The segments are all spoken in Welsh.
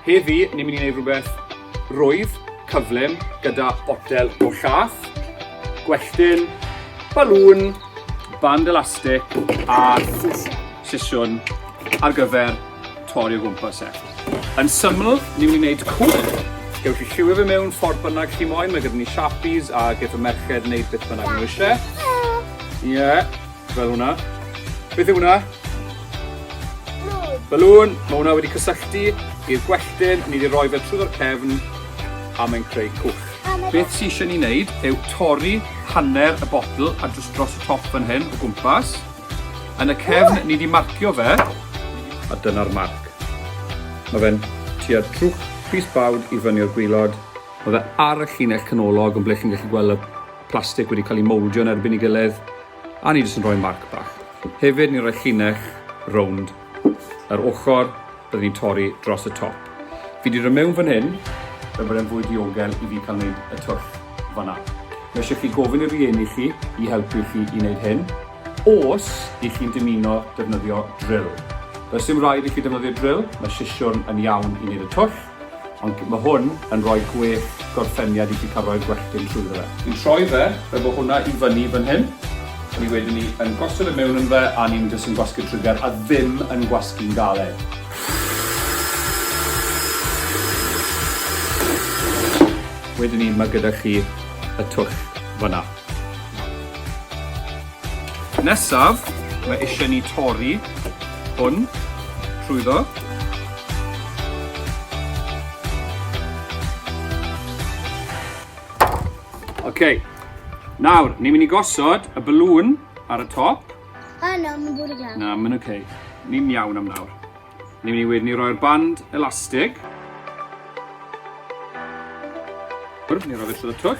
Heddi, ni'n mynd i wneud rhywbeth rwydd, cyflym, gyda botel o llath, gwelltyn, balŵn, band elastig a sesiwn ar gyfer torri o gwmpas e. Yn syml, ni'n mynd i wneud cŵl. Gewch chi lliwio fe mewn ffordd bynnag chi moyn, mae gyda ni Sharpies a geith y merched wneud beth bynnag nhw eisiau. Ie, yeah, fel hwnna. Beth yw hwnna? Balŵn. Mae hwnna wedi cysylltu i'r gwelltyn, ni wedi rhoi fe trwy'r cefn a mae'n creu cwch. Beth sy'n eisiau ni wneud yw torri hanner y botl a drws dros y top fan hyn o gwmpas. Yn y cefn, ni 'di marcio fe, a dyna'r marc. Mae fe'n tua trwch pys bawd i fyny o'r gwilod. Mae fe ar y llinell canolog yn ble chi'n gallu gweld y plastig wedi cael ei mouldio yn erbyn ei gilydd, a ni jyst yn rhoi marc bach. Hefyd, ni'n rhoi llinell rownd Yr ochr rydyn ni'n torri dros y top. Fi 'di dod mewn fan hyn. Fel bod e'n fwy diogel i fi cael gwneud y twll fan'na. Mae eisiau chi gofyn i rieni chi i helpu chi i wneud hyn, os i chi'n dymuno defnyddio drill. Does dim rhaid i chi defnyddio drill, mae sisiwrn yn iawn i wneud y twll. Ond mae hwn yn rhoi gwell gorffeniad i ti cael rhoi'r gwelltyn trwyddo fe. Ni'n troi fe efo hwnna i fyny fan hyn, a ni wedyn ni yn gosod e mewn yn fe a ni'n jyst yn gwasgu'r trigger a ddim yn gwasgu'n galed. Wedyn ni mae gyda chi y twll fan'na. Nesaf, mae isie ni tori hwn trwyddo. Ok, nawr, ni'n mynd i gosod y balloon ar y top. A na, mae'n bod yn iawn. Na, mae'n ok. Ni'n iawn am nawr. Ni'n mynd i wedyn i roi'r band elastig. Wrth, ni'n rhoi fe trwy y twll.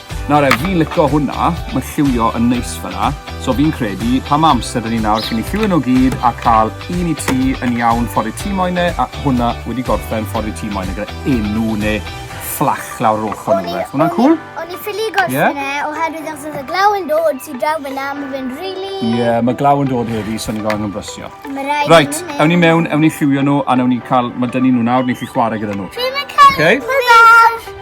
Nawr e, fi'n lico hwnna, mae lliwio yn neis fyna, so fi'n credu, pa mae amser da ni nawr cyn i lliwio nhw gyd a cael un i ti yn iawn ffordd i ti moyn e, a hwnna wedi gorffen ffordd i ti moyn e gyda enw neu fflach lawr yr ochr neu rhywbeth. Hwnna'n cwl? O'n i ffili gorffen yeah. e, oherwydd os oedd y glaw yn dod sy'n draw fyna, mae fe'n rili... Ie, yeah, mae glaw yn dod heddi, so ni'n gofyn yn brysio. Mae rhaid Right, ewn ni mewn, ewn ni lliwio nhw, a newn ni cael, mae dyn ni nhw nawr, ni'n chi chwarae gyda nhw. Fi'n cael okay.